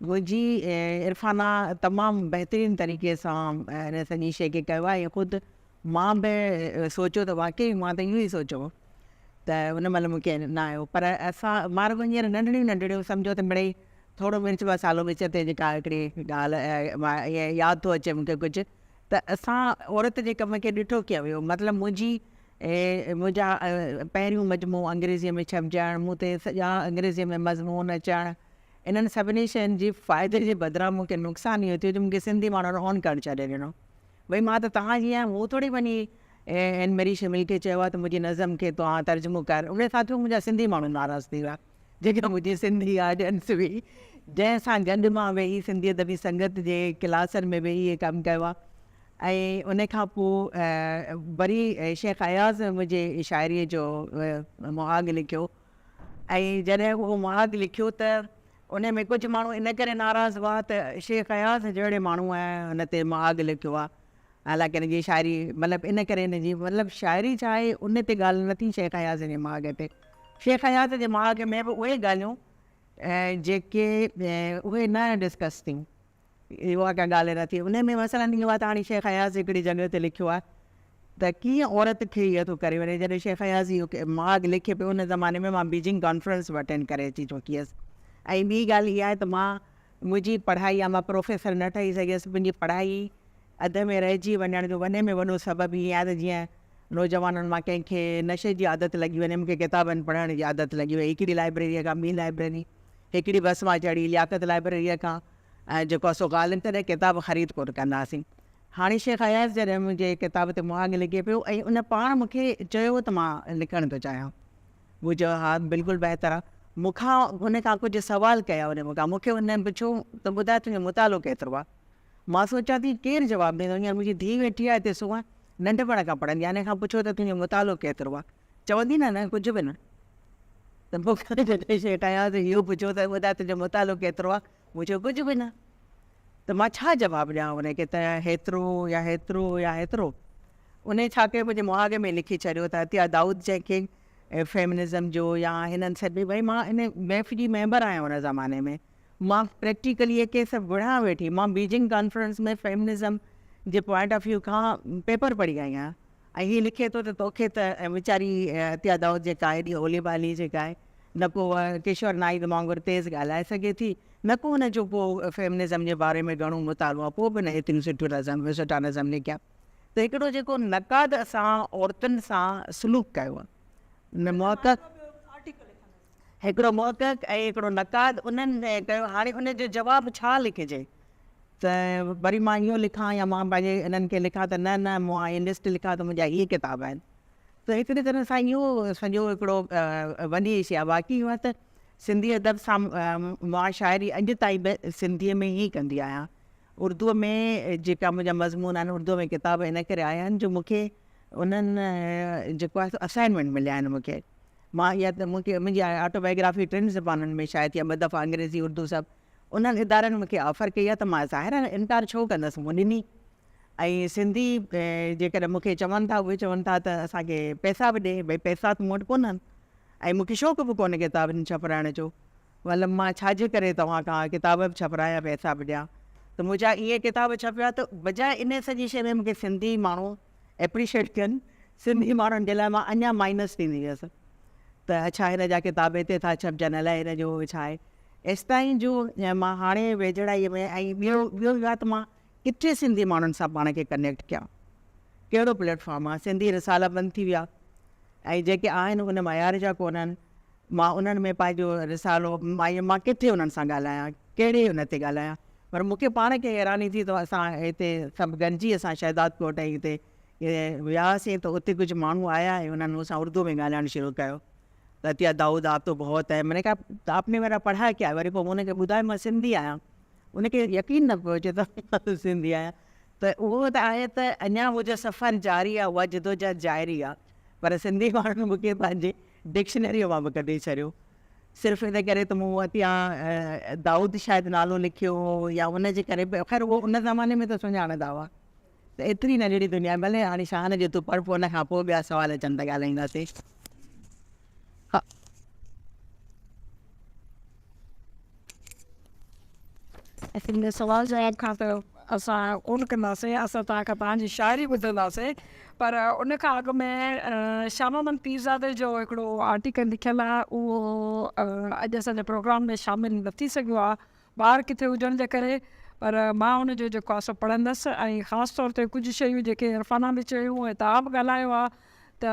جي عرفانه تمام بهترين طريقي سان هن سڄي شيء کي ڪيو آهي ۽ خود مان به سوچيو ته واقعي مان ته اهو ئي سوچيو هو ته ان مهل مون کي نه آيو پر اسان مان رڳو هينئر ننڍڙيون ننڍڙيون سمجهو ته مڙئي ٿورو مرچ مصالحو وچ تي جيڪا هڪڙي ڳالهه ياد ٿو اچي مون کي ڪجهه ته اسان عورت جي ڪم کي ڏٺو ڪيئن ويو مطلب منهنجي منهنجا پهريون مجموعو انگريزيء ۾ ڇپجڻ مون تي سڄا انگريزيء ۾ مضمون اچڻ انهن سڀني شين جي فائدي جي بدران مون کي نقصان اهو ٿيو جو مون کي سنڌي ماڻهن اون ڪرڻ ڇڏي ڏنو. ڀئي مان ته توهان جي آهيان مون ٿوري وڃي اين مري شميل کي چيو آهي ته منهنجي نظم کي توهان ترجمو ڪر انهي سان ٿيو منهنجا سنڌي ماڻهو ناراض ٿي ويا جيڪا منهنجي سنڌي آڊينس هئي جنهن سان گڏ مان ويهي سنڌي ادبي سنگت جي ڪلاسن ۾ ويهي هي ڪم ڪيو آهي ۽ انهي کان پوء وري شيخ اياز منهنجي شاعري جو مهاڳ لکيو ۽ جڏهن اهو مهاڳ لکيو ته ان ۾ ڪجهه ماڻهو ان ڪري ناراض هئا ته شيخ اياز جهڙي ماڻهوء هن تي مهاڳ لکيو آهي حالانڪه هن جي شاعري مطلب ان ڪري هن جي مطلب شاعري ڇا آهي ان تي ڳالهه نه ٿي شيخ اياز جي مهاڳ تي شيخ اياز جي مهاڳ ۾ به اهي ڳالهيون جيڪي اهي نه ڊسڪس ٿيون اهي واقعا ڳالهه نه ٿئي. انهيء ۾ مثلاً اهو آهي ته هاڻي شيخ اياز هڪڙي جڳهه تي لکيو آهي ته ڪيئن عورت کي اهو ٿو ڪري وڃي. جڏهن شيخ اياز اهو ماڳ لکي پيو، ان زماني ۾ مان بيجنگ ڪانفرنس به اٽينڊ ڪري اچي چڪي هيس ۽ ٻي ڳالهه اها آهي ته مان منهنجي پڙهائي يا مان پروفيسر نه ٺهي سگهيس، منهنجي پڙهائي اڌ ۾ رهجي وڃڻ جو وڏي ۾ وڏو سبب هي آهي ته جيئن نوجوانن مان ڪنهن کي نشي جي عادت لڳي وڃي، مون کي ڪتابن پڙهڻ جي عادت لڳي وئي، هڪڙي لائبريريء کان ٻي لائبريري، هڪڙي بس مان چڙهي لياقت لائبريريء کان ۽ جيڪو آهي سو غالب تڏهن ڪتاب خريد ڪونه ڪنداسين. هاڻي شيخ اياز جڏهن منهنجي ڪتاب تي مهاڳ لڳي پيو ۽ ان پاڻ مون کي چيو ته مان لکڻ ٿو چاهيان. مون چيو ها بلڪل بهتر آهي. مون کان هن ڪجهه سوال ڪيا ان مون کان مون کي هن پڇيو ته ٻڌاء تنهنجو مطالعو ڪيترو آهي؟ مان سوچيان ٿي ڪير جواب ڏيندو، هينئر منهنجي ڌيء ويٺي آهي تي سونهن ننڍپڻ کان پڙهندي آهي، هن کان پڇو ته تنهنجو مطالعو ڪيترو آهي، چوندي نه نه ڪجهه به نه. ته مون کان جڏهن شيء ٺاهيان ته اهو پڇو ته ٻڌاء تنهنجو مطالعو ڪيترو آهي، مون چيو ڪجهه به نه. ته مان ڇا جواب ڏيان ان کي ته هيترو يا هيترو يا هيترو. انهيء ڇاڪي منهنجي مهاڳ ۾ لکي ڇڏيو ته عطيه دائود جنهن کي فيمنزم جو يا هنن سڏ ڏني، ڀاء مان ان بيف جي ميمبر آهيان ان زماني ۾، مان پريڪٽيڪلي اهي ڪيس وڙهان ويٺي. مان بيجنگ ڪانفرنس ۾ فيمنزم جي پوائنٽ آف ويو کان پيپر پڙهي آئي آهيان ۽ هي لکي ٿو ته توکي ته ويچاري عطيه دائود جيڪا ايڏي هولي ڀالي جيڪا آهي نه ڪو ڪشور نائيد وانگر تيز ڳالهائي سگهي ٿي نه ڪو هن جو ڪو فيمنزم جي باري ۾ گهڻو مطالعو آهي پوء به نه ايتريون سٺيون نظم سٺا نظم لکيا ته هڪڙو جيڪو نقاد اسان عورتن سان سلوڪ ڪيو آهي محقق هڪڙو محقق ۽ هڪڙو نقاد انهن ڪيو هاڻي ان جو جواب ڇا لکجي ته وري مان اهو لکان يا مان پنهنجي انهن کي لکان ته نه نه مون اهي لسٽ لکيا ته منهنجا اهي ڪتاب آهن ته هڪڙي طرح سان اهو سڄو هڪڙو وڏي شي آهي باقي اهو ته سنڌي ادب سان مان شاعري اڄ تائين به سنڌي ۾ ئي ڪندي آهيان اردو ۾ جيڪا منهنجا مضمون آهن اردو ۾ ڪتاب ان ڪري آيا آهن جو مون کي انهن جيڪو آهي اسائنمينٽ مليا آهن مون کي مان اها ته مون کي منهنجي آٽوبائيگرافي ٽن زبانن ۾ شايع ٿي آهي، ٻه دفعا انگريزي، اردو سڀ. انهن ادارن مون کي آفر ڪئي آهي ته مان ظاهر آهي انڪار ڇو ڪندس، مون ڏني. ۽ سنڌي جيڪڏهن مون کي چون ٿا اهي چون ٿا ته اسان کي پئسا به ڏي، ڀئي پئسا ته مون وٽ ڪونهن ۽ مون کي شوق به ڪونهي ڪتابن ڇپرائڻ جو، مطلب مان ڇا جي ڪري توهان کان ڪتاب به ڇپرايان پئسا به ڏيان. ته منهنجا اهي ڪتاب ڇپيا ته بجاء انهي سڄي شيء ۾ مون کي سنڌي ماڻهو ايپريشيٽ ڪن سنڌي ماڻهن جي لاء مان اڃا مائنس ٿيندي ويس ته اڇا هن جا ڪتاب هتي ٿا ڇپجن الائي هن جو ڇا آهي ايستائين جو مان هاڻي ويجهڙائي ۾ ۽ ٻيو ٻيو اهو آهي ته مان ڪٿي سنڌي ماڻهن سان پاڻ کي ڪنيڪٽ ڪيان ڪهڙو پليٽ فارم آهي سنڌي رسالا بند ٿي ويا ۽ جيڪي آهن ان معيار جا ڪونهن مان انهن ۾ پنهنجو رسالو مايم مان ڪٿي انهن سان ڳالهايان ڪهڙي ان تي ڳالهايان پر مون کي پاڻ کي حيراني ٿي ته اسان هتي سڀ گڏجي اسان شهدادڪوٽ ۽ هتي وياسين ته اتي ڪجهه ماڻهو آيا ۽ انهن مون سان اردوء ۾ ڳالهائڻ شروع ڪيو ته عطيه دائود آپ تو بهت هي مون کي ته آپ ني ميرا پڙها ڪيا وري پوء مون انهن کي ٻڌايو مان سنڌي آهيان ان کي يقين نه پيو اچي ته سنڌي آهيان ته اهو ته آهي ته اڃا اهو جو سفر جاري آهي اها جدوجهد جاري آهي پر سنڌي ماڻهن مون کي پنهنجي ڊڪشنريء مان به ڪڍي ڇڏيو صرف ان ڪري ته مون وٽ يا دائود شايد نالو لکيو هو يا ان جي ڪري به خير اهو ان زماني ۾ ته سڃاڻندا هئا ته ايتري ننڍڙي دنيا ڀلي هاڻي شاهه نجي تون پڙهه پوء ان کان پوء ٻيا سوال اچن ته ڳالهائينداسين هن سوال جواب کان ته اسان ڪونه ڪنداسين، اسان توهان کان توهان جي شاعري ٻڌنداسين پر ان کان اڳ ۾ شاهه محمد پيرزادي جو هڪڙو آرٽيڪل لکيل آهي اهو اڄ اسان جي پروگرام ۾ شامل نه ٿي سگهيو آهي ٻاهر ڪٿي هجڻ جي ڪري پر مان ان جو جيڪو آهي سو پڙهندس ۽ خاص طور تي ڪجهه شيون جيڪي عرفانه به چيون ۽ توهان به ڳالهايو آهي ته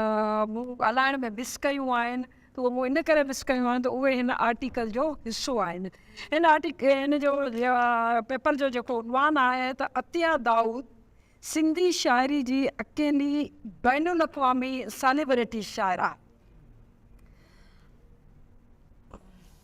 مون ڳالهائڻ ۾ مس ڪيون آهن ته اهي مون ان ڪري مس ڪيون آهن ته اهي هن آرٽيڪل جو حصو آهن. هن آرٽيڪل هن جو پيپر جو جيڪو عنوان آهي ته عطيه دائود سنڌي شاعري جي اڪيلي بين الاقوامي سيليبريٽي شاعره.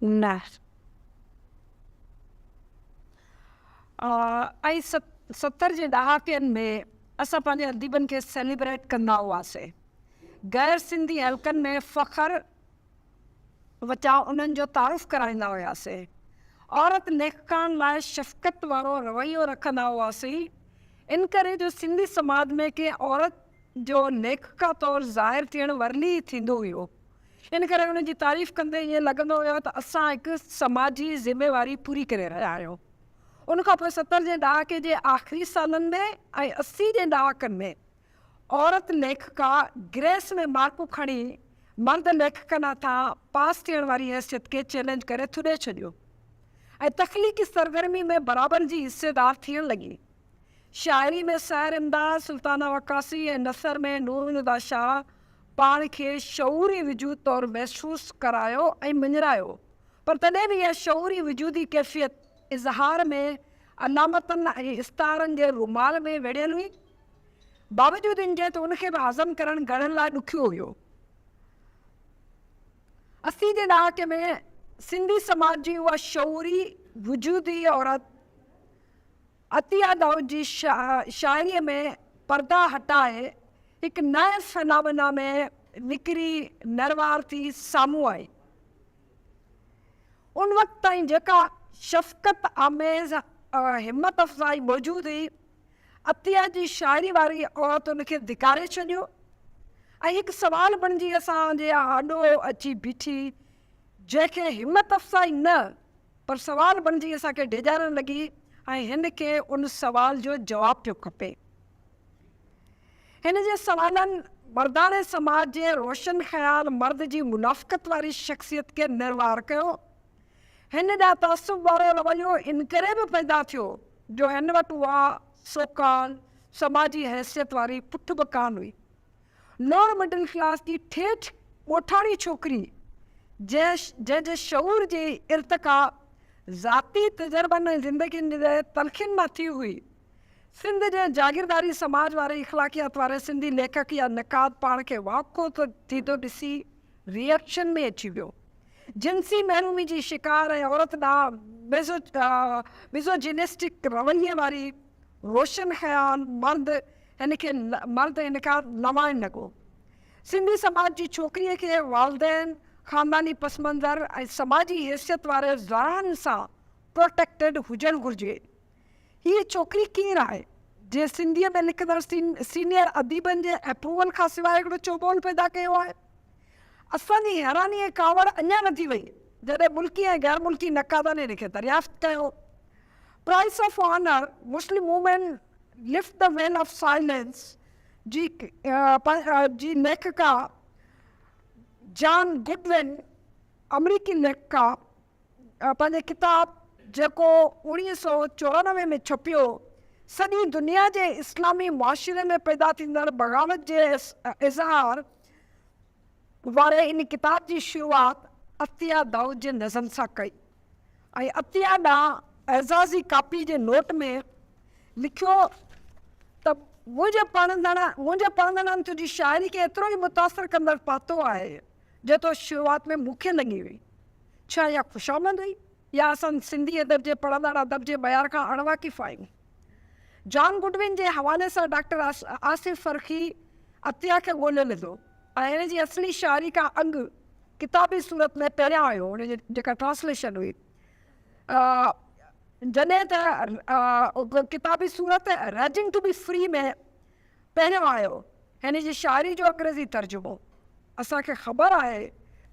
نه. ۽ ستر جي ڏهاڪين ۾ اسان پنهنجي اديبن کي سيليبريٽ ڪندا هئاسين. غير سنڌي حلقن ۾ فخر وچان انهن جو تعارف ڪرائيندا هياسين. عورت ليکڪائن لاء شفقت وارو رويو رکندا هئاسين. انڪري جو سنڌي سماج ۾ ڪنهن عورت جو ليکڪا طور ظاهر ٿيڻ ورلي ئي ٿيندو هيو. ان ڪري ان جي تعريف ڪندي ائين لڳندو هيو ته اسان هڪ سماجي ذميواري پوري ڪري رهيا آهيون. ان کان پوء ستر جي ڏهاڪي جي آخري سالن ۾ ۽ اسي جي ڏهاڪن ۾ عورت ليکڪا گريس ۾ مارڪون کڻي مرد ليکڪن هٿان پاس ٿيڻ واري حيثيت کي چئلينج ڪري ٿڏي ڇڏيو ۽ تخليقي سرگرمي ۾ برابر جي حصيدار ٿيڻ لڳي. شاعري ۾ سحر امداد، سلطانه وقاصي ۽ نثر ۾ نورالهديٰ شاهه پاڻ کي شعوري وجود طور محسوس ڪرايو ۽ مڃرايو، پر تڏهن به اها شعوري وجودي ڪيفيت اظهار ۾ علامتن ۽ استعارن جي رومال ۾ ويڙهيل هئي. باوجود ان جي ته ان کي به هضم ڪرڻ گهڻن لاء ڏکيو هيو. اسي جي ڏهاڪي ۾ سنڌي سماج جي اها شعوري وجودي عورت، عطيه دائود جي شاعريء ۾ پردا هٽائي هڪ نئين فنامنا ۾ نکري نروار ٿي سامهون آئي. ان وقت تائين جيڪا شفقت آميز همت افزائي موجود هئي، عطيه جي شاعري واري اوت ان کي ڌڪاري ڇڏيو ۽ هڪ سوال بڻجي اسان جي آڏو اچي بيٺي، جنهن کي همت افزائي نه پر سوال بڻجي اسان کي ڊيڄارڻ لڳي ۽ هن کي ان سوال جو جواب پيو کپي. هن جي سوالن مرداڻي سماج جي روشن خيال مرد جي منافقت واري شخصيت کي نروار ڪيو. هن ڏانهن تعصب وارو رويو انڪري به پيدا ٿيو جو هن وٽ اها سو ڪالڊ سماجي حيثيت واري پٺ به ڪانه هئي. لوئر مڊل ڪلاس جي ٺيٺ ڳوٺاڻي ڇوڪري، جنهن جي شعور جي ارتقا ذاتي تجربن ۽ زندگين جي تلخين مان ٿي هئي. سنڌ جي جاگيرداري سماج واري اخلاقيات واري سنڌي ليکڪ يا نقاد پاڻ کي واکو ٿيندو ڏسي ريئڪشن ۾ اچي ويو. جنسي محرومي جي شڪار ۽ عورت ڏانهن ميزوجينسٽڪ رويي واري روشن خيال مرد هن کي مرد هن کان لوائڻ لڳو. سنڌي سماج جي ڇوڪريء کي والدين، خانداني پس منظر ۽ سماجي حيثيت واري زارعن سان پروٽيڪٽيڊ هجڻ گهرجي. هيء ڇوڪري ڪير آهي، جنهن سنڌيء ۾ لکندڙ سينيئر اديبن جي اپروول کان سواء هڪڙو چوٻول پيدا ڪيو آهي؟ اسان جي حيراني ۽ ڪاوڙ اڃا وڌي وئي، جڏهن ملڪي ۽ غيرملڪي نقادن هن کي دريافت ڪيو. Price of honour Muslim women lift the veil of silence جي ليکڪا جان گڊون آمريڪي ليکڪا پنهنجي ڪتاب جيڪو اوڻيهه سؤ چورانوي ۾ ڇپيو سڄي دنيا جي اسلامي معاشري ۾ پيدا ٿيندڙ بغاوت جي اظهار واري ان ڪتاب جي شروعات عطيه دائود جي نظم سان ڪئي ۽ عطيه ڏانهن اعزازي ڪاپي جي نوٽ ۾ لکيو ته منهنجي پڙهندڙ منهنجي پڙهندڙن تنهنجي شاعري کي ايترو ئي متاثر ڪندڙ پاتو آهي جيترو شروعات ۾ مون کي لڳي هئي. ڇا اها خوشامد هئي يا اسان سنڌي ادب جي پڙهندڙ ادب جي معيار کان اڻواقف آهيون؟ جان گڊون جي حوالي سان ڊاڪٽر آصف فرخي عطيه کي ڳولهيو ويندو ۽ هن جي اصلي شاعري کان اڳ ڪتابي صورت ۾ پهريان آيو هن جي جيڪا ٽرانسليشن هئي جڏهن ته ڪتابي صورت رائٽنگ ٽو بي فري ۾ پهريان آيو هن جي شاعري جو انگريزي ترجمو اسان کي خبر آهي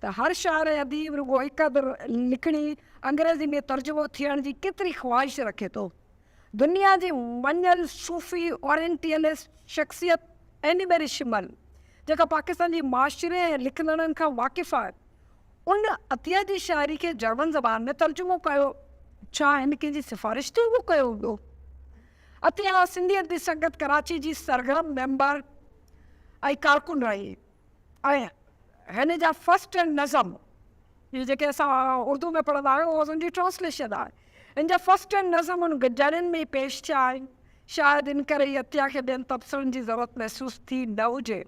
ته هر شاعر ۽ اديب رڳو هڪ ادب لکڻي انگريزي ۾ ترجمو ٿيڻ جي ڪيتري خواهش رکي ٿو. دنيا جي مڃيل صوفي اورينٽيلسٽ شخصيت ايني ميري شمل جيڪا پاڪستان جي معاشري ۽ لکندڙن کان واقف آهي ان عطيه جي شاعري کي جرمن زبان ۾ ترجمو ڪيو. ڇا هن ڪنهن جي سفارش تي اهو ڪيو هوندو؟ عطيه سنڌي ادبي سنگت ڪراچي جي سرگرم ميمبر ۽ ڪارڪن رهي. ۽ هن جا فرسٽ هينڊ نظم، هي جيڪي اسان اردو ۾ پڙهندا آهيون اهو ان جي ٽرانسليشن آهي، هن جا فرسٽ هينڊ نظم ان ڊيرين ۾ ئي پيش ٿيا آهن، شايد ان ڪري ئي عطيه کي ٻين تبصرن جي ضرورت محسوس ٿي نه هجي.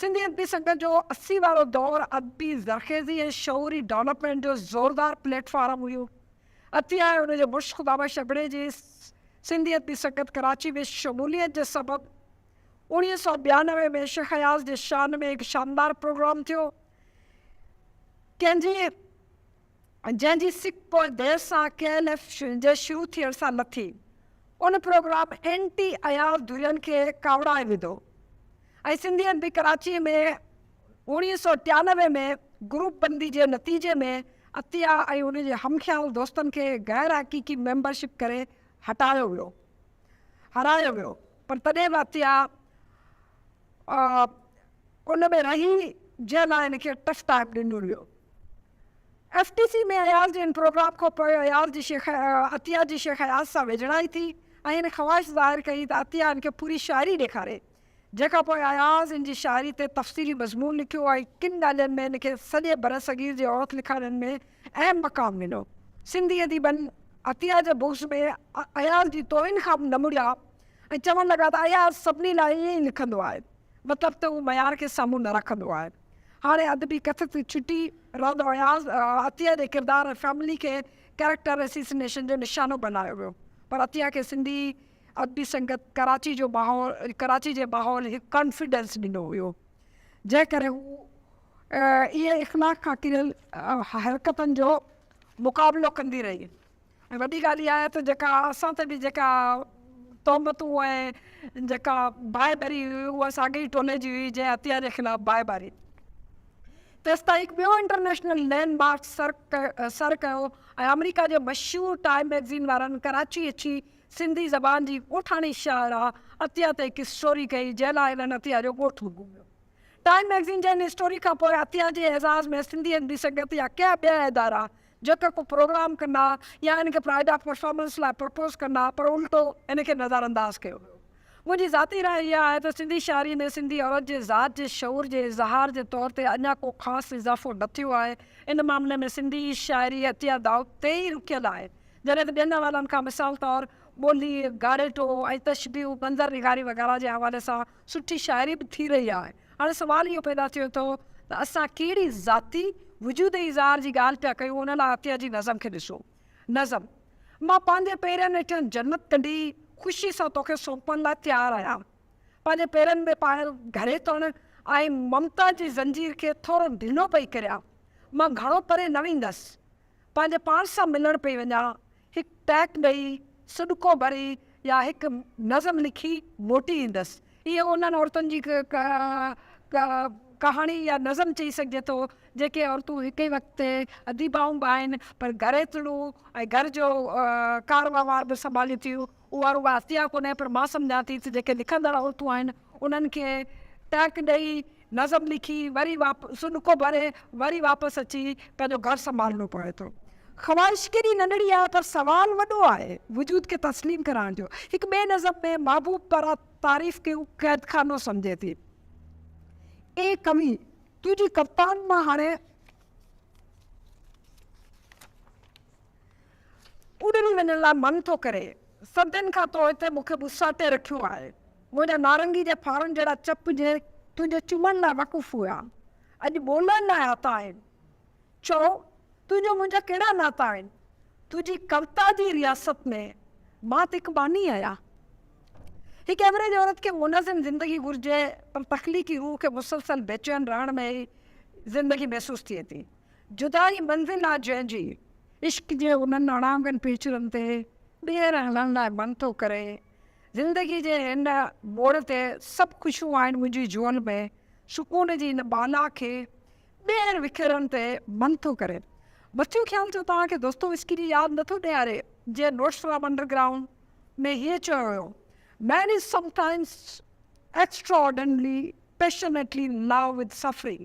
سنڌي ادبي سنگت جو اسي وارو دور ادبي زرخيزي ۽ شعوري ڊولپمينٽ جو زوردار پليٽ فارم هيو. عطيه ۽ ان جي مڙس خدابخش ابڙي جي سنڌي ادبي سنگت ڪراچي ۾ شموليت جي سبب، اڻيهه سؤ ٻيانوي ۾ شيخ اياز جي شان ۾ هڪ شاندار پروگرام ٿيو، ڪنهن جي جنهن جي سڪ پوء دير سان ڪي اين ايف جي شروع ٿيڻ سان لٿي. ان پروگرام اينٽي اياز ڌرين کي ڪاوڙائي وڌو ۽ سنڌي ادبي ڪراچيء ۾ اڻيهه سؤ ٽيانوي ۾ گروپ بندي جي نتيجي ۾ عطيه ۽ ان جي هم خيال دوستن کي غير حقيقي ميمبرشپ ڪري هٽايو ويو هارايو ويو. پر تڏهن به عطيه ان ۾ رهي جنهن لاء هن کي ٽف ٽائيم ڏنو ويو. ايف ٽي سي ۾ اياز جي ان پروگرام کان پوء اياز جي شيخ عطيه جي شيخ اياز سان ويجهڙائي ٿي ۽ هن خواهش ظاهر ڪئي ته عطيه هن کي پوري شاعري ڏيکاري جنهن کان پوء اياز هن جي شاعري تي تفصيلي مضمون لکيو ۽ ڪن ڳالهين ۾ هن کي سڄي برصغير جي عورت لکارين ۾ اهم مقام ڏنو. سنڌي اديبن عطيه جي بوس ۾ اياز جي توهين کان به نه مڙيا ۽ چوڻ لڳا ته اياز سڀني لاء ائين ئي لکندو آهي، مطلب ته هو معيار کي سامهون نه رکندو آهي. هاڻي ادبي ڪٿ تي ڇٽي رند اياز عطيه جي ڪردار ۽ فيملي کي ڪيريڪٽر اسيسينيشن جو نشانو بنايو ويو پر عطيه کي سنڌي ادبي سنگت ڪراچي جو ماحول ڪراچي جي ماحول هڪ ڪانفيڊنس ڏنو هيو جنهن ڪري هو اهي اخلاق کان ڪريل حرڪتن جو مقابلو ڪندي رهي ۽ وڏي ڳالهه اها آهي ته جيڪا اسان تي به جيڪا تهمتون ۽ جيڪا باهه ٻري هئي اها ساڳئي ئي ٽولي جي هئي جنهن عطيه جي خلاف باهه ٻاري تيستائين هڪ ٻيو انٽرنيشنل لينڊ مارڪ سر ڪيو ۽ آمريڪا جي مشهور ٽائيم مئگزين وارن ڪراچي اچي سنڌي زبان جي ڳوٺاڻي شاعره عطيه تي هڪ اسٽوري ڪئي جنهن لاء هنن عطيه جو ڳوٺ گهميو. ٽائيم مئگزين جي ان اسٽوري کان پوء عطيه جي اعزاز ۾ سنڌي ايم ڊي سنگت يا ڪيا ٻيا ادارا جيڪا ڪو پروگرام ڪندا يا ان کي پرائڊ آف پرفارمنس لاء پرپوز ڪندا پر الٽو ان کي نظرانداز ڪيو ويو. منهنجي ذاتي راء اها آهي ته سنڌي شاعري ۾ سنڌي عورت جي ذات جي شعور جي اظهار جي طور تي اڃا ڪو خاص اضافو نه ٿيو آهي ان معاملي ۾ سنڌي شاعري عطيه دائود تي ئي رڪيل آهي جڏهن ته ٻين حوالن کان مثال طور ٻولي، گاريٽو ۽ تشبيهون، منظر نگاري وغيره جي حوالي سان سٺي شاعري به ٿي رهي آهي. هاڻي سوال اهو پيدا ٿيو ٿو ته اسان ڪهڙي ذاتي وجودي اظهار جي ڳالهه پيا ڪيون ان لاء عطيه جي نظم کي ڏسو. نظم، مان پنهنجي پيرن هيٺيان جنت ڪڍي خوشي سان توکي سونپڻ لاء تيار آهيان. پنهنجي پيرن ۾ پايل گهري تڻ ۽ ممتا جي زنجير کي ٿورو ڍلو پئي ڪريان. مان گهڻو پري نه ويندس. پنهنجي پاڻ سان ملڻ پئي وڃان، هڪ ٽهڪ ڏئي، سڏڪو ڀري يا هڪ نظم لکي موٽي ايندس. هيء انهن عورتن جي ڪهاڻي يا نظم چئي سگهجي ٿو، جيڪي عورتون هڪ ئي وقت تي اديبائون به آهن، پر گهريتڙو ۽ گهر جو ڪار وهنوار به سنڀالين ٿيون. اها رڳو احتياط ڪونهي پر مان سمجهان ٿي ته جيڪي لکندڙ عورتون آهن انهن کي ٽهڪ ڏئي نظم لکي وري سڏڪو ڀري وري واپس اچي پنهنجو گهر سنڀالڻو پوي ٿو. خواهش ڪيڏي ننڍڙي آهي پر سوال وڏو آهي وجود کي تسليم ڪرائڻ جو. هڪ ٻئي نظم ۾ محبوب پرا تعريف کي قيدخانو سمجهي ٿي. اي ڪوي! تنهنجي ڪوتائن مان هاڻي. اڏري وڃڻ لاء من ٿو ڪري. صدين کان تو هتي مون کي ٻساٽي رکيو آهي. منهنجا نارنگي جي ڦارن جهڙا چپ جي تنهنجي چمن لاء وقف هيا، اڄ ٻولڻ لاء آتا آهن. چؤ، تنهنجا منهنجا ڪهڙا ناتا آهن؟ تنهنجي ڪوتا جي رياست ۾ مان ته هڪ باني آهيان. هڪ ايوريج عورت کي منظم زندگي گهرجي، پر تخليقي روح کي مسلسل بيچين رهڻ ۾ ئي زندگي محسوس ٿئي ٿي. جدائي منزل آ جنهن جي. عشق جي انهن اڻانگن پيچرن تي ٻيهر هلڻ لاء من ٿو ڪري. زندگي جي هن موڙ تي سڀ خوشيون آهن منهنجي جهول ۾. سڪون جي ان بالا کي ٻيهر وکيرڻ تي من ٿو ڪري. مٿيون خيال ڇو توهان کي دوستويسڪي جي ياد نه ٿو ڏياري جنهن نوٽس فرام انڊرگرائونڊ ۾ هيئن چيو هيو، man is sometimes extraordinarily passionately in love with suffering.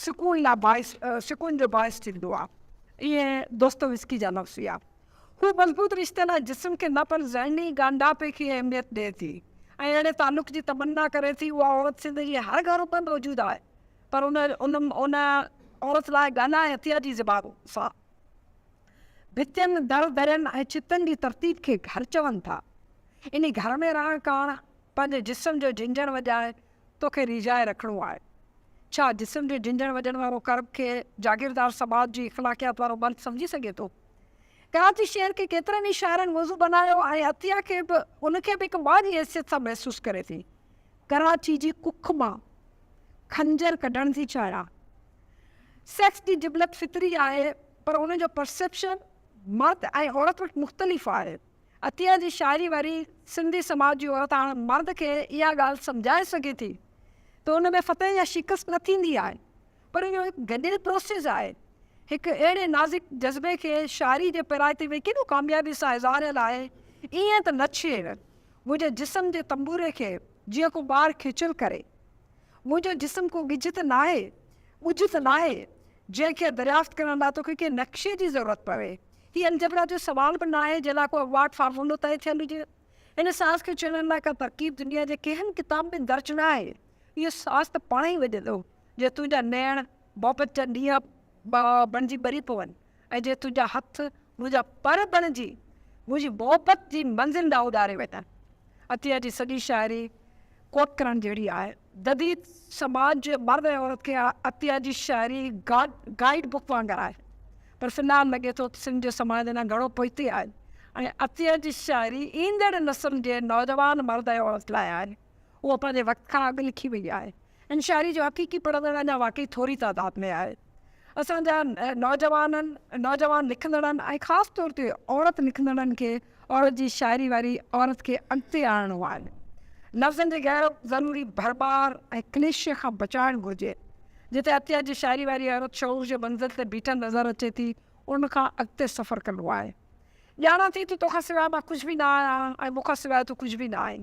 سڪون لاء باعث سڪون جو باعث ٿيندو آهي. اهي دوستويسڪي جا لفظ هيا. هو مضبوط رشتي لاء جسم کي نه پر ذهني ڳانڍاپي کي اهميت ڏئي ٿي ۽ اهڙي تعلق جي تمنا ڪري ٿي. اها عورت سنڌ جي هر گهر ۾ موجود آهي پر ان ان عورت لاء ڳالهائي هٿيا جي زبان سان ڀتين، در درين ۽ ڇتن جي ترتيب کي گهر چون ٿا. انهي گهر ۾ رهڻ ڪاڻ پنهنجي جسم جو جهنجهڻ وڄائي توکي ريجهائي رکڻو آهي. ڇا جسم جو جهنجهڻ وڄڻ وارو ڪرب کي جاگيردار سماج جي اخلاقيات وارو مرد سمجهي سگهي ٿو؟ ڪراچي شهر کي ڪيترن ئي شاعرن موضوع بنايو ۽ عطيه کي به ان کي به هڪ ماء جي حيثيت سان محسوس ڪري ٿي. ڪراچي جي ڪک مان خنجر ڪڍڻ ٿي چاهيان. سيڪس جي جبلت فطري آهي پر ان جو پرسيپشن مرد ۽ عورت وٽ مختلف آهي. عطيه جي شاعري وري سنڌي سماج جي عورت هاڻ مرد کي اها ڳالهه سمجهائي سگهي ٿي ته ان ۾ فتح يا شڪست نه ٿيندي آهي پر اهو هڪ گڏيل پروسيس آهي. هڪ اهڙي نازڪ جذبي کي شاعري جي پرايتي ۾ ڪيڏو ڪاميابي سان اظهاريل آهي ائين ته نه ڇيڙ منهنجي جسم جي تنبوري کي جيئن ڪو ٻار کيچل ڪري منهنجو جسم ڪو ڳجهه ته ناهي ڳجهه ته ناهي جنهن کي دريافت ڪرڻ لاء توکي ڪنهن نقشي جي ضرورت پوي هي الجبرا جو سوال به ناهي جنهن لاء ڪو اوارڊ فارمولو طئي ٿيل هجي. هن ساز کي چيڻڻ لاء ڪا ترڪيب دنيا جي ڪنهن ڪتاب ۾ درج ناهي. اهو ساز ته پاڻ ئي وڄندو جي تنهنجا نيڻ محبت جا نيا بڻجي ٻري پون ۽ جي تنهنجا هٿ منهنجا پر بڻجي منهنجي محبت جي منزل ڏانهن اڏاري وڃن. عطيه جي سڄي شاعري ڪوٽ ڪرڻ جهڙي آهي. جديد سماج جي مرد ۽ عورت کي عطيه جي شاعري گائيڊ بڪ وانگر آهي، پر في الحال لڳي ٿو ته سنڌ جو سماج اڃا گهڻو پوئتي آهي ۽ عطيه جي شاعري ايندڙ نسل جي نوجوان مرد ۽ عورت لاء آهي. هوء پنهنجي وقت کان اڳ لکي وئي آهي ۽ شاعري جو حقيقي پڙهندڙ اڃا واقعي ٿوري تعداد ۾ آهي. اسان جا نوجوانن، نوجوان لکندڙن ۽ خاص طور تي عورت لکندڙن کي عورت جي شاعري واري عورت کي اڳتي آڻڻو آهي. لفظن جي غير ضروري ڀرمار ۽ ڪليشي کان بچائڻ گهرجي. جتي عطيه جي شاعري واري عورت شعور جي منزل تي بيٺل نظر اچي ٿي، ان کان اڳتي سفر ڪرڻو آهي. ڄاڻان ٿي ته توکان سواء مان ڪجهه به نه آهيان ۽ مون کان سواء تون ڪجهه به نه آهين.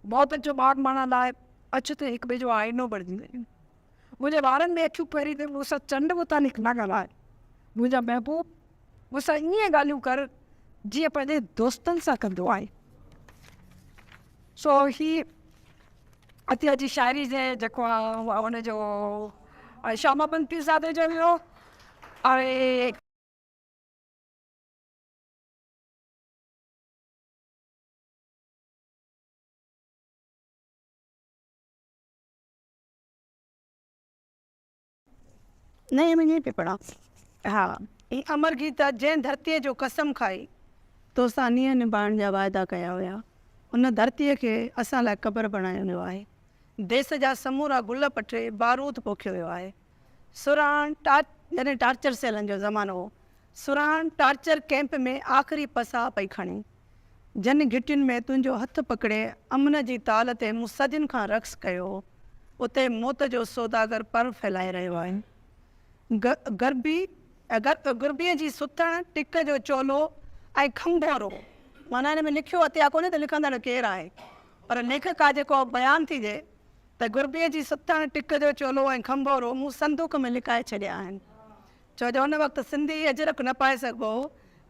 محبت جو ماڳ ماڻڻ لاء اچ ته هڪٻئي جو آئينو بڻجي وڃون. منهنجي وارن ۾ اکيون پيري ته مون سان چنڊ متعلق نه ڳالهاء. منهنجا محبوب مون سان ائين ڳالهيون ڪر جيئن پنهنجي دوستن سان ڪندو آهي. سو هي عطيه جي شاعري جي جيڪو آهي ان جو شاهه محمد پيرزادي جو هيو ۽ نئين ۾ ائين پئي پڙهان ها اي امر گيتا جنهن ڌرتيء جو قسم کائي تو سان نينهن نڀائڻ جا واعدا ڪيا هيا ان ڌرتيء کي اسان لاء قبر بڻايو ويو آهي ديس جا سمورا گل پٽي بارود پوکيو ويو آهي سرهاڻ جڏهن ٽارچر سيلن جو زمانو هو سرهاڻ ٽارچر ڪئمپ ۾ آخري پساهه پئي کڻي جن گهٽين ۾ تنهنجو هٿ پڪڙي امن جي تال تي مون صدين کان رقص ڪيو هو، اتي موت جو سوداگر پر ڦهلائي رهيو آهي. غربي، غربيء جي ستڻ، ٽڪ جو چولو ۽ کنڀورو. معنيٰ هن ۾ لکيو اٿي ها ڪونهي ته لکندڙ ڪير آهي، پر ليکڪ آهي جيڪو بيان ٿي ڏئي ته غربيء جي ستڻ، ٽڪ جو چولو ۽ کنڀورو مون صندوق ۾ لڪائي ڇڏيا آهن. ڇو جو ان وقت سنڌي اجرڪ نه پائي سگهبو هو.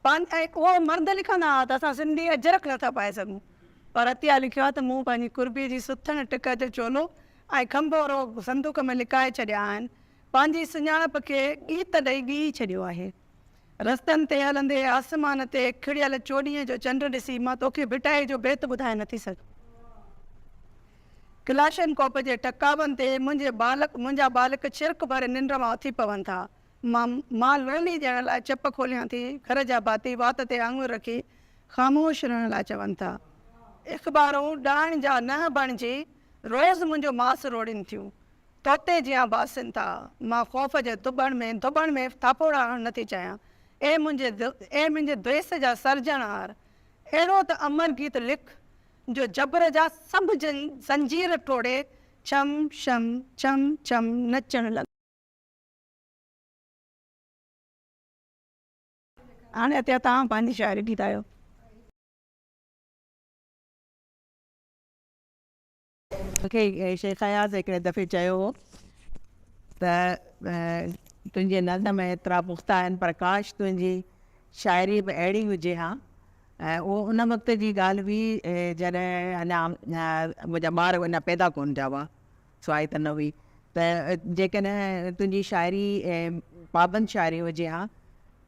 پنهنجي ۽ اهو مرد لکندا ها ته اسان سنڌي اجرڪ نه ٿا پائي سگهون پر عطيه لکيو آهي ته مون پنهنجي قربي جي سٿڻ ٽڪ جو چولو ۽ کنڀو روء صندوق ۾ لڪائي ڇڏيا آهن پنهنجي سڃاڻپ کي ڳيت ڏئي ڳهي ڇڏيو آهي رستن تي هلندي آسمان تي کڙيل چوڏهينء جو چنڊ ڏسي مان توکي ڀٽائي جو بيت ٻڌائي نٿي سگهان ڪلاشنڪوپ جي ٽڪاون تي منهنجي ٻالڪ منهنجا ٻالڪ ڇرڪ ڀري ننڊ مان اٿي پون ٿا مان مال ويلي ڏيڻ لاء چپ کوليان ٿي، گهر جا ڀاتي وات تي آڱر رکي خاموش رهڻ لاء چون ٿا. اخبارون ڏائڻ جا ننهن بڻجي روز منهنجو ماس روڙين ٿيون. طوطي جيان باسين ٿا. مان خوف جي دٻڻ ۾ دٻڻ ۾ ٿاڦوڙا هڻڻ نٿي چاهيان. اي منهنجي اي منهنجي ديس جا سرجڻهار! اهڙو ته امر گيت لک، جو جبر جا سڀ جن زنجير ٽوڙي ڇم ڇم ڇم ڇم نچڻ لڳن. هاڻي اتي توهان پنهنجي شاعري ٻڌايو. مون کي شيخ اياز هڪڙي دفعي چيو هو ته تنهنجي نظم ايترا پختا آهن پر ڪاش تنهنجي شاعري به اهڙي هجي ها. اهو ان وقت جي ڳالهه هئي جڏهن اڃا منهنجا ٻار اڃا پيدا ڪونه ٿيا هئا. سواء ته نه هئي ته جيڪڏهن تنهنجي شاعري پابند شاعري هجي ها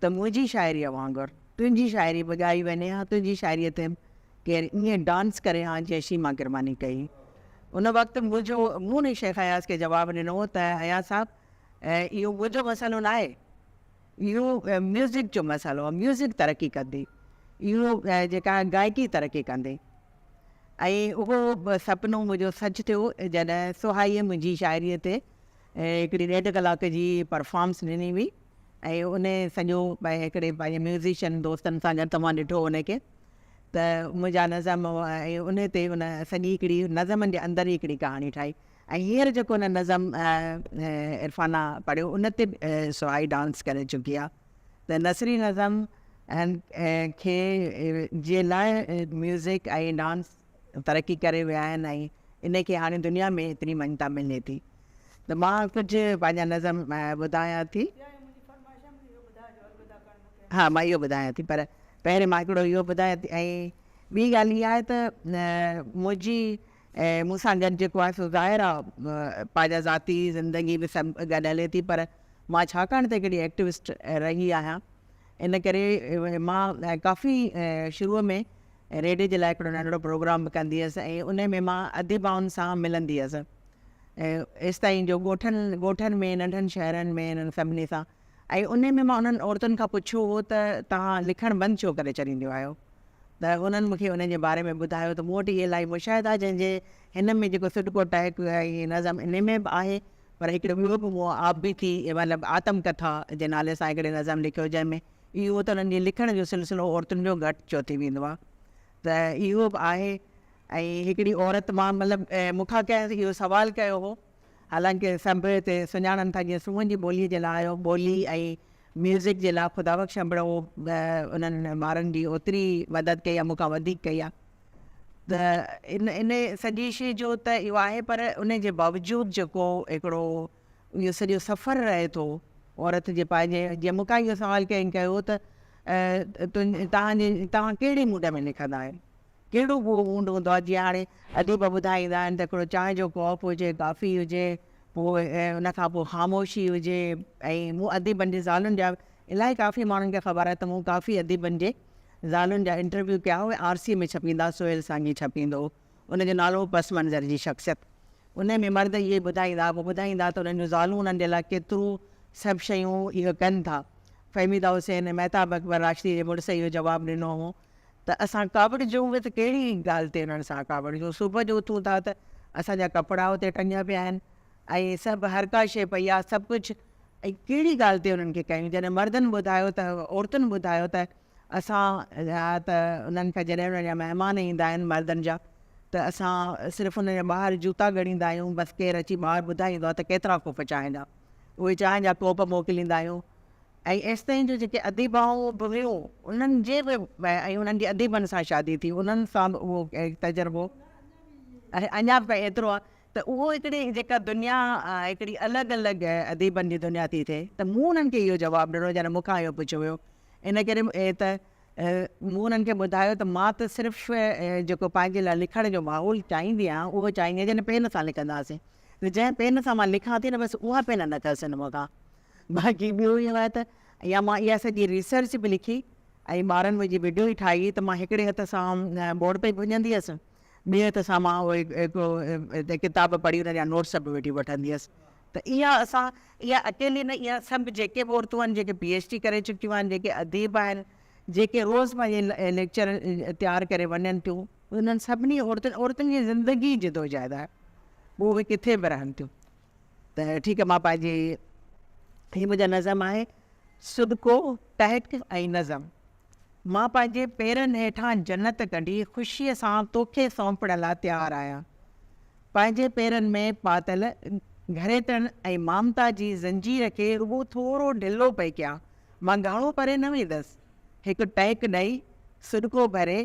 ته منهنجي شاعريء وانگر تنهنجي شاعري به ڳائي وڃي ها تنهنجي شاعريء تي ڪير ائين ڊانس ڪري ها جيئن شيما ڪرماني ڪئي ان وقت منهنجو مون نه شيخ اياز کي جواب ڏنو هو ته اياز صاحب اهو منهنجو مسئلو نه آهي اهو ميوزڪ جو مسئلو ميوزڪ ترقي ڪندي اهو جيڪا گائڪي ترقي ڪندي ۽ اهو سپنو منهنجو سچ ٿيو جڏهن سهائيء منهنجي شاعريء تي هڪڙي ڏيڍ ڪلاڪ جي پرفارمس ڏني هئي ۽ ان سڄو هڪڙي پنهنجي ميوزيشن دوستن سان گڏ توهان ڏٺو ان کي ته منهنجا نظم ۽ ان تي ان سڄي هڪڙي نظمن جي اندر ئي هڪڙي ڪهاڻي ٺاهي ۽ هينئر جيڪو ان نظم عرفانه پڙهيو ان تي به سهائي ڊانس ڪري چڪي آهي ته نثري نظم کي جي لاء ميوزڪ ۽ ڊانس ترقي ڪري ويا آهن ۽ ان کي هاڻي دنيا ۾ ايتري مڃتا ملي ٿي ته مان ڪجهه پنهنجا نظم ٻڌايان ٿي. ها مان اهو ٻڌايان ٿي پر پهرين مان هڪڙو اهو ٻڌايان ٿي ۽ ٻي ڳالهه اها آهي ته منهنجي ۽ مون سان گڏ جيڪو آهي سو ظاهر آ پنهنجا ذاتي زندگي به گڏ هلي ٿي پر مان ڇاڪاڻ ته هڪڙي ايڪٽوسٽ رهي آهيان ان ڪري مان ڪافي شروع ۾ ريڊيو جي لاء هڪڙو ننڍڙو پروگرام به ڪندي هيس ۽ ان ۾ مان اديبائن سان ملندي هيس ايستائين جو ڳوٺن ڳوٺن ۾ ننڍن شهرن ۾ انهن سڀني سان ۽ انهي ۾ مان انهن عورتن کان پڇيو هو ته توهان لکڻ بند ڇو ڪري ڇڏينديون آهيو ته هنن مون کي انهن جي باري ۾ ٻڌايو ته مون وٽ اهي الاهي مشاهدا آهي جنهن جي هن ۾ جيڪو سڏڪو ٽهڪ ۽ نظم انهي ۾ به آهي پر هڪڙو ٻيو به مون آپ بيتي مطلب آتم ڪٿا جي نالي سان هڪڙي نظم لکيو جنهن ۾ اهو ته انهن جي لکڻ جو سلسلو عورتن جو گهٽ چو ٿي ويندو آهي ته اهو به آهي ۽ هڪڙي عورت مان مطلب مون کان ڪنهن اهو سوال ڪيو هو. حالانڪه سنڀ هتي سڃاڻن ٿا جيئن سونهن جي ٻوليء جي لاء اهو ٻولي ۽ ميوزڪ جي لاء خدا بخش انبڙو انهن مارن جي اوتري مدد ڪئي آهي مون کان وڌيڪ ڪئي آهي ته ان ان سڄي شيء جو ته اهو آهي پر ان جي باوجود جيڪو هڪڙو اهو سڄو سفر رهي ٿو عورت جي پنهنجي جيئن مون کان اهو سوال ڪنهن ڪيو ته تون توهان جي توهان ڪهڙي موڊ ۾ لکندا آهيو ڪهڙو به موڊ هوندو آهي جيئن هاڻي اديب ٻڌائيندا آهن ته هڪڙو چانهه جو ڪاپ هجي ڪافي هجي پوء ان کان پوء خاموشي هجي ۽ مون اديبن جي زالن جا الائي ڪافي ماڻهن کي خبر آهي ته مون ڪافي اديبن جي زالن جا انٽرويو ڪيا اهي آر سي ۾ ڇپيندا سهيل سانگي ڇپيندو هو ان جو نالو هو پس منظر جي شخصيت انهي ۾ مرد اهي ٻڌائيندا هئا ٻڌائيندا ته انهن جون زالون انهن جي لاء ڪيترو سڀ شيون اهي ڪن ٿا فهميده حسين مهتاب اڪبر راشدي جي مڙس اهو جواب ڏنو هو ته اسان ڪاوڙجون به ته ڪهڙي ڳالهه تي انهن سان ڪاوڙجون. صبح جو اٿون ٿا ته اسان جا ڪپڙا اتي ٽنگيا پيا آهن ۽ سڀ هر ڪا شيء پئي آهي سڀ ڪجهه ۽ ڪهڙي ڳالهه تي انهن کي ڪيون. جڏهن مردن ٻڌايو ته عورتن ٻڌايو ته اسان جا ته انهن کي جڏهن انهن جا مهمان ايندا آهن مردن جا ته اسان صرف انهن جا ٻاهر جوتا ڳڙيندا آهيون بس ڪير اچي ٻاهر ٻڌائيندو آهي ته ڪيترا ڪوپ چانهه جا اهي چانهه جا ڪوپ موڪليندا آهيون ۽ ايستائين جو جيڪي اديبائون به هيون انهن جي به ۽ انهن جي اديبن سان شادي ٿي انهن سان به اهو تجربو اڃا به تائين ايترو آهي ته اهو هڪڙي جيڪا دنيا هڪڙي الڳ الڳ اديبن جي دنيا ٿي ٿئي ته مون انهن کي اهو جواب ڏنو جڏهن مون کان اهو پڇيو ويو ان ڪري ته مون انهن کي ٻڌايو ته مان ته صرف جيڪو پنهنجي لاء لکڻ جو ماحول چاهيندي آهيان اهو چاهيندي آهيان جڏهن پين سان لکنداسين جنهن پين سان مان لکان ٿي نه بس اها پين نه کسين مون کان باقي ٻيو اهو آهي ته يا مان اها سڄي ريسرچ به لکي ۽ ٻارن منهنجي وڊيو ئي ٺاهي ته مان هڪڙي هٿ سان بورڊ پئي ڀڃندي هيس ٻئي هٿ سان مان اهي هڪڙو ڪتاب پڙهي انهن جا نوٽس به وٺي وٺندي هيس ته اها اسان اها اڪيلي نه اها سڀ جيڪي به عورتون آهن جيڪي پي ايڇ ڊي ڪري چڪيون آهن جيڪي اديب آهن جيڪي روز پنهنجي ليڪچر تيار ڪري وڃن ٿيون انهن سڀني عورتن عورتن جي زندگي جدوجهد آهي پوء اهي ڪٿي به رهن ٿيون ته ٺيڪ مان پنهنجي هي منهنجا نظم آهي سڏڪو ٽهڪ ۽ نظم مان پنهنجي پيرن هيٺان جنت ڪڍي خوشيء سان توکي سونپڻ لاء تيار آهيان پنهنجي پيرن ۾ پاتل گهريٽن ۽ مامتا جي زنجير کي رڳو ٿورو ڍلو پئي ڪيان مان گهڻو پري نه ويندس هڪ ٽهڪ ڏئي سڏڪو ڀري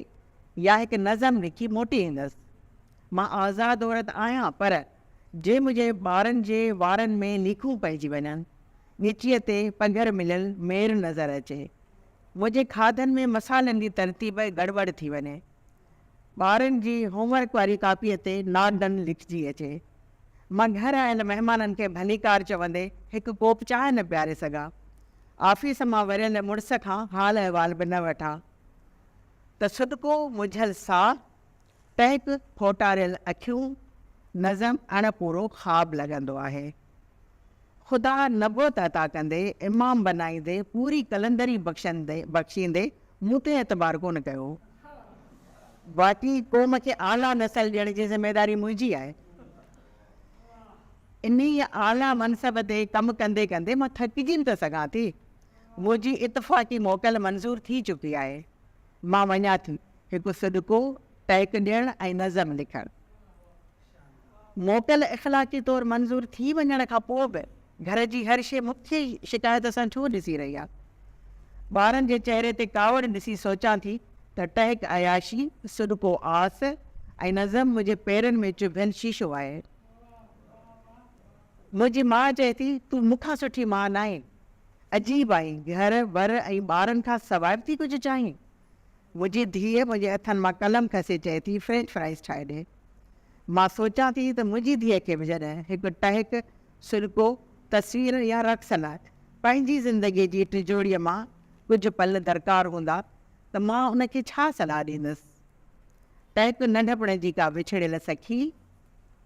يا هڪ نظم لکي موٽي ايندس مان آزاد عورت آهيان پر جي منهنجي ٻارن جي وارن ۾ نيڪون پئجي وڃن، ڳچيء تي پگهر مليل مير نظر اچي، منهنجي کاڌن ۾ مصالحن جي ترتيب گڙٻڙ ٿي وڃي، ٻارن جي هوم ورڪ واري ڪاپيء تي ناٽ ڊن لکجي اچي، مان گهر آيل مهمانن کي ڀليڪار چوندي هڪ ڪوپ چانهه نه پياري سگهان، آفيس مان وريل مڙس کان حال احوال به نه وٺان ته سڏڪو منجهيل ساهه، پيڪ ڦوٽاريل اکيون نظم اڻ پورو خواب لڳندو آهي. خدا نبوت عطا ڪندي، امام بنائيندي، پوري قلندري بخشيندي مون تي اعتبار ڪونه ڪيو. باقي قوم کي اعليٰ نسل ڏيڻ جي ذميواري منهنجي آهي. انهيء اعليٰ منصب تي ڪم ڪندي ڪندي مان ٿڪجي به ته سگهان ٿي. منهنجي اتفاقي موڪل منظور ٿي چڪي آهي. مان وڃان ٿي هڪ سڏڪو، ٽهڪ ڏيڻ ۽ نظم لکڻ. موڪل اخلاقي طور منظور ٿي وڃڻ کان پوء به گهر جي هر شيء مون کي ئي شڪايت سان ڇو ڏسي رهي آهي. ٻارن جي چهري تي ڪاوڙ ڏسي سوچان ٿي ته ٽهڪ عياشي، سڏڪو آس ۽ نظم منهنجي پيرن ۾ چڀيل شيشو آهي. منهنجي ماء چئي ٿي، تون مون کان سٺي ماء ناهين. عجيب آهين، گهر ور ۽ ٻارن کان سواء به ٿي ڪجهه چاهين. منهنجي ڌيء منهنجي هٿن مان قلم کسي چئي ٿي، فرينچ فرائيز ٺاهي ڏي. مان سوچان ٿي ته منهنجي ڌيء کي به جڏهن هڪ ٽهڪ، سرڪو، تصوير يا رقص لاء پنهنجي زندگيء جي ٽجوڙيء مان ڪجهه پل درڪار هوندا ته مان ان کي ڇا صلاح ڏيندس؟ ٽهڪ ننڍپڻ جي ڪا وڇڙيل سکي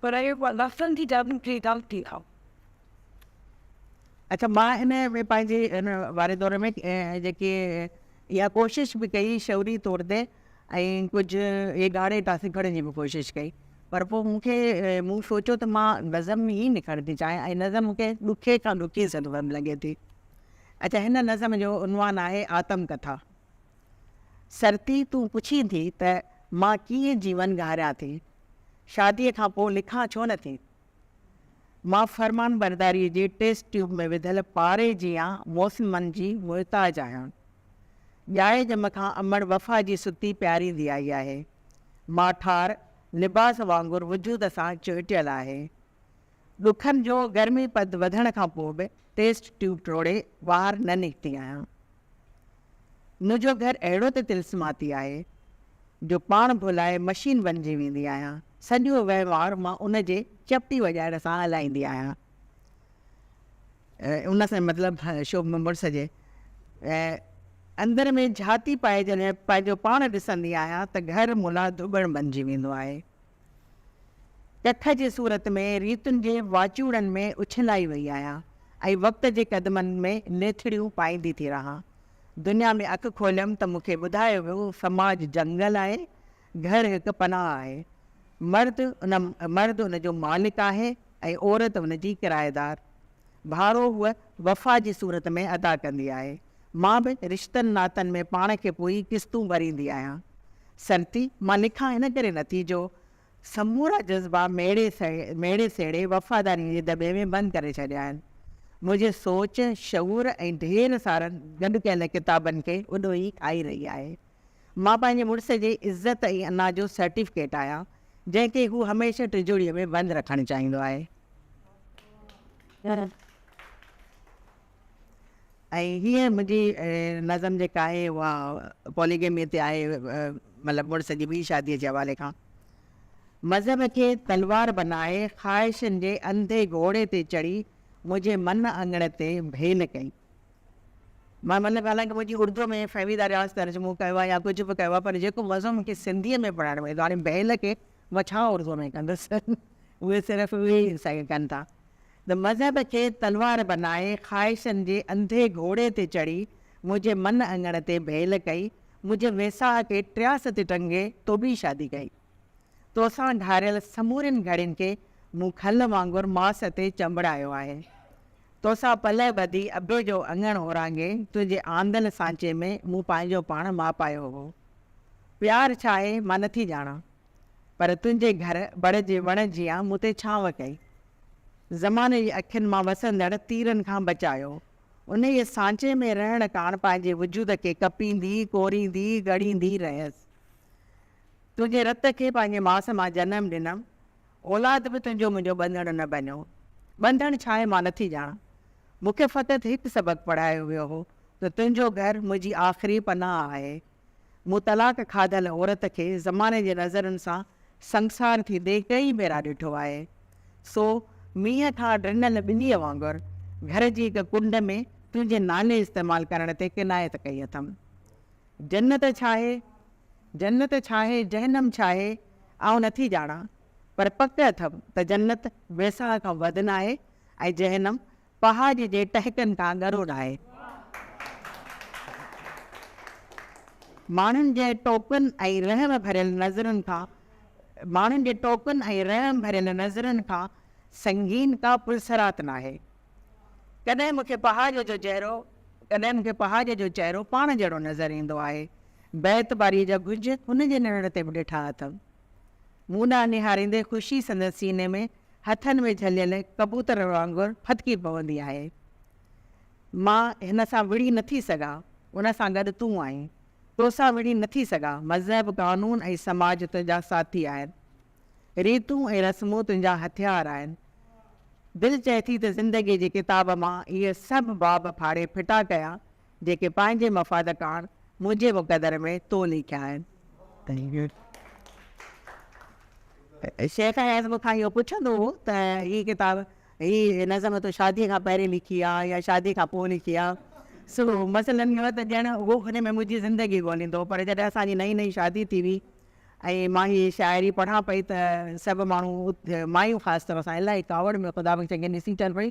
پر اهي رڳو لفظن جي جادو جي ڳالهه ٿي ٿا. اچا مان ان ۾ پنهنجي ان واري دور ۾ جيڪي اها ڪوشش به ڪئي شعوري طور تي ۽ ڪجهه اهي ڳاڙهي ٽاسي کڻڻ جي به ڪوشش ڪئي پر پوء مون کي مون سوچيو ته مان نظم ئي لکڻ ٿي چاهيان ۽ نظم مون کي ڏکي کان ڏکي سرگرم لڳي ٿي. اچا هن نظم جو عنوان آهي آتم ڪٿا. سرتي تون پڇين ٿي ته مان ڪيئن جيون گهاريان ٿي شاديء کان پوء لکان ڇو نه ٿي؟ مان فرمانبرداريء جي ٽيسٽ ٽيوب ۾ وڌل پاري جيان موسمن جي محتاج آهيان. ڄائي ڄم کان امڙ وفا جي ستي پياريندي آئي آهي. ماٺار لباس وانگر وجود سان چهٽيل آهي. ڏکن جو گرمي پد وڌڻ کان پوء به ٽيسٽ ٽيوب ٽوڙي ٻاهر نه نڪتي آهيان. ان جو گهر اهڙو ته طلسماتي آهي، جو پاڻ ڀلائي مشين بنجي ويندي آهيان. سڄو وهنوار مان ان جي چپٽي وڄائڻ سان هلائيندي آهيان. ان سان مطلب شوبه مڙس جي اندر ۾ جهاتي پائي جڏهن پنهنجو پاڻ ڏسندي آهيان ته گهر ملان ڌوٻڻ بنجي ويندو آهي. ڪٿ جي صورت ۾ ريتن جي واچوڙن ۾ اڇلائي وئي آهيان ۽ وقت جي قدمن ۾ نيٿڙيون پائيندي ٿي رهان. دنيا ۾ اک کوليم ته مون کي ٻڌايو ويو سماج جنگل آهي، گهر هڪ پناهه آهي. مرد ان مرد ان جو مالڪ آهي ۽ عورت ان جي ڪرائيدار. ڀاڙو هوء وفا جي صورت ۾ ادا ڪندي آهي. مان به رشتن ناتن ۾ پاڻ کي پوئي قسطون ڀريندي آهيان. سرتي، مان لکان ان ڪري نٿي جو سمورا جذبا ميڙي ميڙي سيڙي وفاداريء جي دٻي ۾ بند ڪري ڇڏيا آهن. منهنجي سوچ، شعور ۽ ڍير سارن گڏ ڪيل ڪتابن کي اڏو ئي کائي رهي آهي. مان پنهنجي مڙس جي عزت ۽ انا جو سرٽيفڪيٽ آهيان، جنهن کي هو هميشه ٽجوڙيء ۾ بند رکڻ چاهيندو آهي. ۽ هيء منهنجي نظم جيڪا آهي اها پوليگيميء تي آهي، مطلب مڙس جي ٻي شاديء جي حوالي کان. مذهب کي تلوار بنائي خواهشن جي انڌي گهوڙي تي چڙهي منهنجي من اڱڻ تي ڀيل ڪئي. مان مطلب حالانڪه منهنجي اردوء ۾ فهميده رياض ترجمو ڪيو آهي يا ڪجهه به ڪيو آهي پر جيڪو مزو مون کي سنڌيء ۾ پڙهڻ ۾ ايندو آهي هاڻي ڀيل کي مان ڇا اردوء ۾ ڪندس، اهي صرف اهي ئي سگهه ڪن ٿا ته مذهب کي تلوار بنائي خواهشن جي انڌي گهوڙي تي چڙهي منهنجي من اڱڻ تي ڀيل ڪئي، منهنجي ويساهه کي ٽياس تي ٽنگي تو ٻي شادي ڪئي. توسان گهاريل سمورين گهڙين کي مون کل وانگر ماس تي چنبڙايو آهي. توسان پلئه ٻڌي ابي جو اڱڻ اورانگهي تنهنجي آندل سانچي ۾ مون پنهنجو پاڻ ماپايو هو. پيار ڇا آهي مان نه ٿي ڄاڻان، پر تنهنجي گهر بڙ جي وڻ جيان مون تي ڇانو ڪئي. زماني جي اکين مان وسندڙ تيرن کان بچايو. انهيء سانچي ۾ رهڻ ڪاڻ پنهنجي وجود کي ڪپيندي، ڪوريندي، ڳڙيندي رهيس. تنهنجي رت کي پنهنجي ماس مان جنم ڏنم. اولاد به تنهنجو منهنجو ٻنڌڻ نه بنيو. ٻنڌڻ ڇا آهي مان نه ٿي ڄاڻان. مون کي فقط هڪ سبق پڙهايو ويو هو ته تنهنجو گهر منهنجي آخري پناهه آهي. مون طلاق کاڌل عورت کي زماني جي نظرن سان سنگسار ٿيندي ڪئين ڀيرا ڏٺو آهي. سو مينهن کان ڊنل ٻنيء وانگر گهر جي هڪ ڪنڊ ۾ تنهنجي نالي استعمال ڪرڻ تي ڪنايت ڪئي اٿم. جنت ڇاهي، جنت ڇاهي، جهنم ڇاهي، آئون نٿي ڄاڻان، پر پڪ اٿم ته جنت ويساهه کان وڌ ناهي ۽ جهنم پهاڄ جي ٽهڪن کان ڳرو لاهي، ماڻهن جي ٽوڪن ۽ رحم ڀريل نظرن کان ماڻهن جي ٽوڪن ۽ رحم ڀريل نظرن کان سنگين ڪا پلسرات ناهي. ڪڏهن مون کي پهاڄ جو چهرو ڪڏهن مون کي پهاڄ جو چهرو پاڻ جهڙو نظر ايندو آهي. بي اعتباريء جا گهنج هن جي نرڙ تي به ڏٺا اٿم. مون ڏانهن نهاريندي خوشي سندس سيني ۾ هٿن ۾ جهليل ڪبوتر وانگر ڦٿڪي پوندي آهي. مان هن سان وڙهي نه ٿي سگهان، ان سان گڏ تون آهين. تو سان وڙهي نه ٿي سگهان، مذهب، قانون ۽ سماج تنهنجا ساٿي آهن. ريتون ۽ رسمون تنهنجا هٿيار آهن. دل چئي ٿي ته زندگيء جي ڪتاب مان اهي سڀ باب ڦاڙي ڦٽا ڪيان جيڪي پنهنجي مفاد ڪاڻ منهنجي مقدر ۾ تو ليکيا آهن. شيخ اياز مون کان اهو پڇندو هو ته هي ڪتاب، هي نظم تو شاديء کان پهرين لکي ها يا شاديء کان پوء لکي ها؟ سو مثلاً اهو ته ڄڻ هو ان ۾ منهنجي زندگي ڳوليندو هو. پر جڏهن اسان جي نئين نئين شادي ٿي هئي ۽ مان هيء شاعري پڙهان پئي ته سڀ ماڻهو، مايون خاص طور سان الائي ڪاوڙ ۾ خدا بخش کي ڏسي چون پيون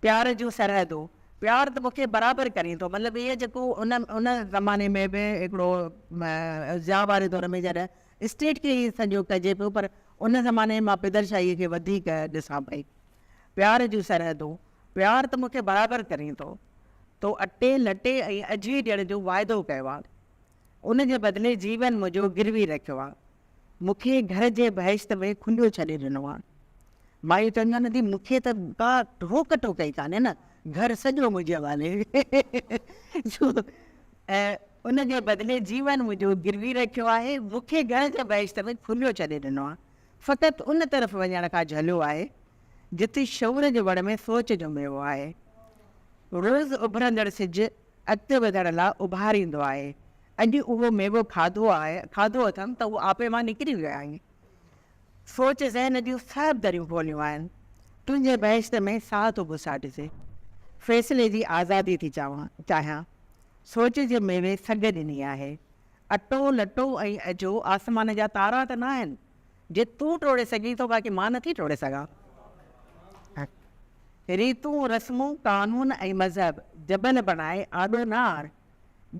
پيار جون سرحدون پيار ته مون کي برابر ڪرين ٿو مطلب اهي جيڪو ان ان زماني ۾ به هڪڙو ضياء واري دور ۾ جڏهن اسٽيٽ کي هي سڄو ڪجي پيو پر ان زماني مان پدرشاهي کي وڌيڪ ڏسان پئي پيار جون سرحدون پيار ته مون کي برابر ڪرين ٿو تو اٽي لٽي ۽ اجهي ڏيڻ جو واعدو ڪيو آ. ان جي بدلي جيون منهنجو گروي رکيو آ. مون کي گهر جي بهشت ۾ کنڊيو ڇڏي ڏنو آ. مايون چونديون آهن ادي مون کي ته ڪا روڪ ٽوڪ ئي ڪانهي نه، گهر سڄو منهنجي حوالي جو ۽ ان جي بدلي جيون منهنجو گروي رکيو آهي. مون کي گهر جي بهشت ۾ کنڊيو ڇڏي ڏنو آ. فقط ان طرف وڃڻ کان جهليو آهي، جتي شعور جي وڻ ۾ سوچ جو ميوو آهي. روز اڀرندڙ سج. اڳتي وڌڻ لاء اڀاريندو آهي. اڄ اهو ميوو کاڌو آهي، کاڌو اٿم ته هو آپي مان نڪري ويو آهي. سوچ ذهن جون سڀ دريون کوليون آهن. تنهنجي بهشت ۾ ساهه ٿو گساٽجي. فيصلي جي آزادي ٿي چاهيان. سوچ جي ميوي سگهه ڏني آهي. اٽو، لٽو ۽ اجهو آسمان جا تارا ته ناهن. جي تون ٽوڙي سگهين ٿو باقي مان نٿي ٽوڙي سگهان. ريتون، رسمون، قانون ۽ مذهب جبل بڻائي آڏو نه آڻ.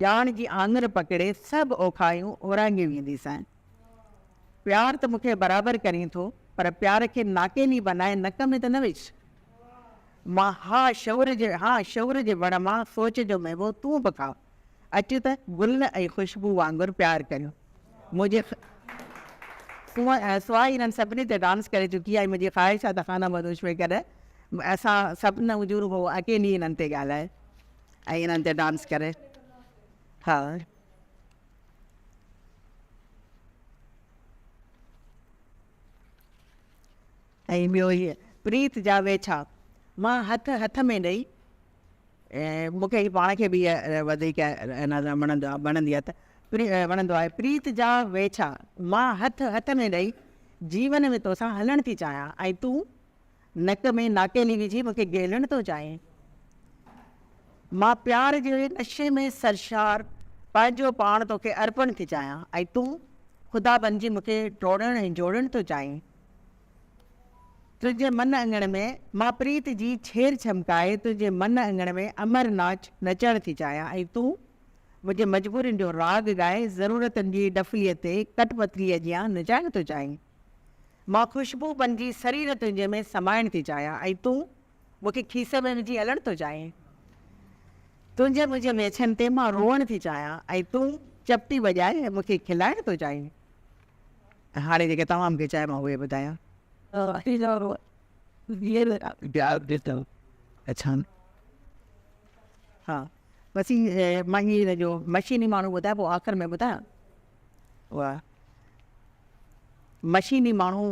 ڄاڻ جي آڱر پڪڙي سڀ اوکايون اورانگهي وينديسين. پيار ته مون کي برابر ڪرين ٿو پر پيار کي ناڪيني بنائي نڪ ۾ ته نه وج. مان ها شعور جي ها شعور جي وڻ مان سوچ جو ميوو تون به کاء. اچ ته گل ۽ خوشبو وانگر پيار ڪريون منهنجي سواء انهن سڀني تي ڊانس ڪري چڪي آهي منهنجي خواهش آهي ته خانه بدوش ۾ ڪڏهن اسان سڀ نه هجون رڳو اڪيلي انهن تي ڳالهائي ۽ انهن تي ڊانس ڪري ها ۽ ٻيو هي پريت جا ويڇا مان هٿ هٿ ۾ ڏئي مون کي پاڻ کي به اها وڌيڪ وڻندي آهي وڻندو آهي پريت جا ويڇا مان هٿ هٿ ۾ ڏئي جيون ۾ تو سان هلڻ ٿي چاهيان ۽ تون نڪ ۾ ناڪيلي وجهي مون کي گهيلڻ ٿو چاهين مان پيار جي نشي ۾ سرشار پنهنجو پاڻ تو کي ارپڻ ٿي چاهيان ۽ تون خدا بنجي مون کي ٽوڙڻ ۽ جوڙڻ ٿو چاهين تنهنجي من اڱڻ ۾، مان پريت جي ڇير ڇمڪائي تنهنجي من اڱڻ ۾ امر ناچ نچڻ ٿي چاهيان ۽ تون منهنجي مجبورين جو راڳ ڳائي ضرورتن جي ڏڦليء تي ڪٺ پتليء جيان نچائڻ ٿو چاهين. مان خوشبو بنجي سرير تنهنجي ۾ سمائڻ ٿي چاهيان ۽ تون مون کي کيسي ۾ وجهي هلڻ ٿو چاهين. تنهنجي منهنجي ميچن تي مان روئڻ ٿي چاهيان ۽ تون چپٽي وڄائي مون کي کلائڻ ٿو چاهين. هاڻي جيڪي توهان مون کي چاهي مان اهي ٻڌايان. ها بس مان هي هن جو مشيني ماڻهو ٻڌايان پوء آخر ۾ ٻڌايان. واه مشيني ماڻهو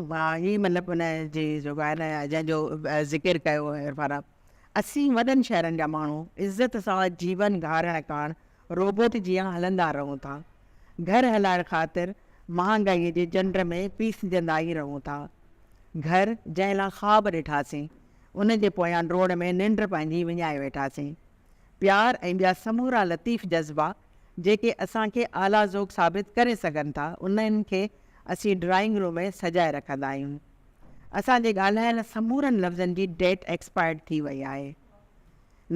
هي مطلب ان جي جيڪو آهي نه جنهن جو ذڪر ڪيو عرفان اسين وڏن شهرن جا ماڻهو عزت سان جيون گهارڻ ڪاڻ روبوٽ جيان هلندا رهون ٿا. گهر هلائڻ خاطر مهانگائي جي جنڊ ۾ پيسجندا ئي رهون ٿا. گهر جنهن لا خواب ڏٺاسين، ان جي پويان ڊوڙ ۾ ننڊ پنهنجي وڃائي ويٺاسين. پيار ۽ ٻيا سمورا لطيف جذبا جيڪي اسان کي اعليٰ ذوق ثابت ڪري سگهن ٿا، انهن کي اسين ڊرائنگ روم ۾ سجائي رکندا آهيون. اسان جي ڳالهايل سمورن لفظن جي ڊيٽ ايڪسپائرڊ ٿي وئي آهي.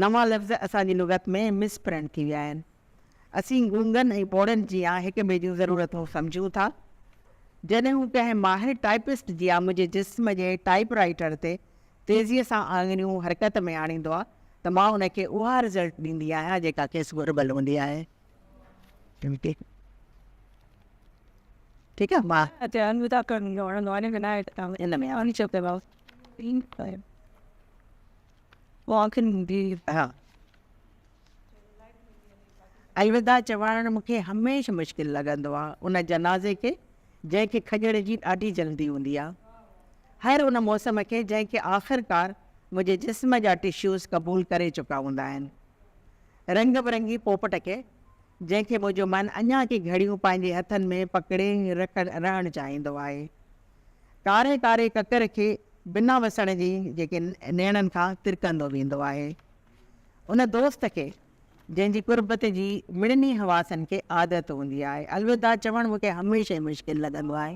نوان لفظ اسان جي لغت ۾ مس پرنٽ ٿي ويا آهن. اسين گونگن ۽ ٻوڙن جيان هڪ ٻئي جون ضرورتون سمجهون ٿا. جڏهن هو ڪنهن ماهر ٽائپسٽ جيان منهنجي جسم جي ٽائپ رائيٽر تي تيزيء سان آڱريون حرڪت ۾ آڻيندو آهي ته مان ان کي اها رزلٽ ڏيندي آهيان جيڪا کيس گهربل هوندي آهي. ٺيڪ آهي. الوداع چوائڻ مون کي هميشه مشڪل لڳندو آ ان جنازي کي جنهن کي کڄڻ جي ڏاڍي جلدي هوندي آ هر ان موسم کي جنهن کي آخرڪار منهنجي جسم جا ٽشوز قبول ڪري چڪا هوندا آهن رنگ برنگي پوپٽ کي جنهن کي منهنجو من اڃا ڪي گهڙيون پنهنجي هٿن ۾ پڪڙي رهڻ چاهيندو آهي. ڪاري ڪاري ڪڪر کي بنا وسڻ جي جيڪي نيڻن کان ترڪندو ويندو آهي. ان دوست کي جنهن جي قربت جي مڙني حواسن کي عادت هوندي آهي. الوداع چوڻ مون کي هميشه مشڪل لڳندو آهي.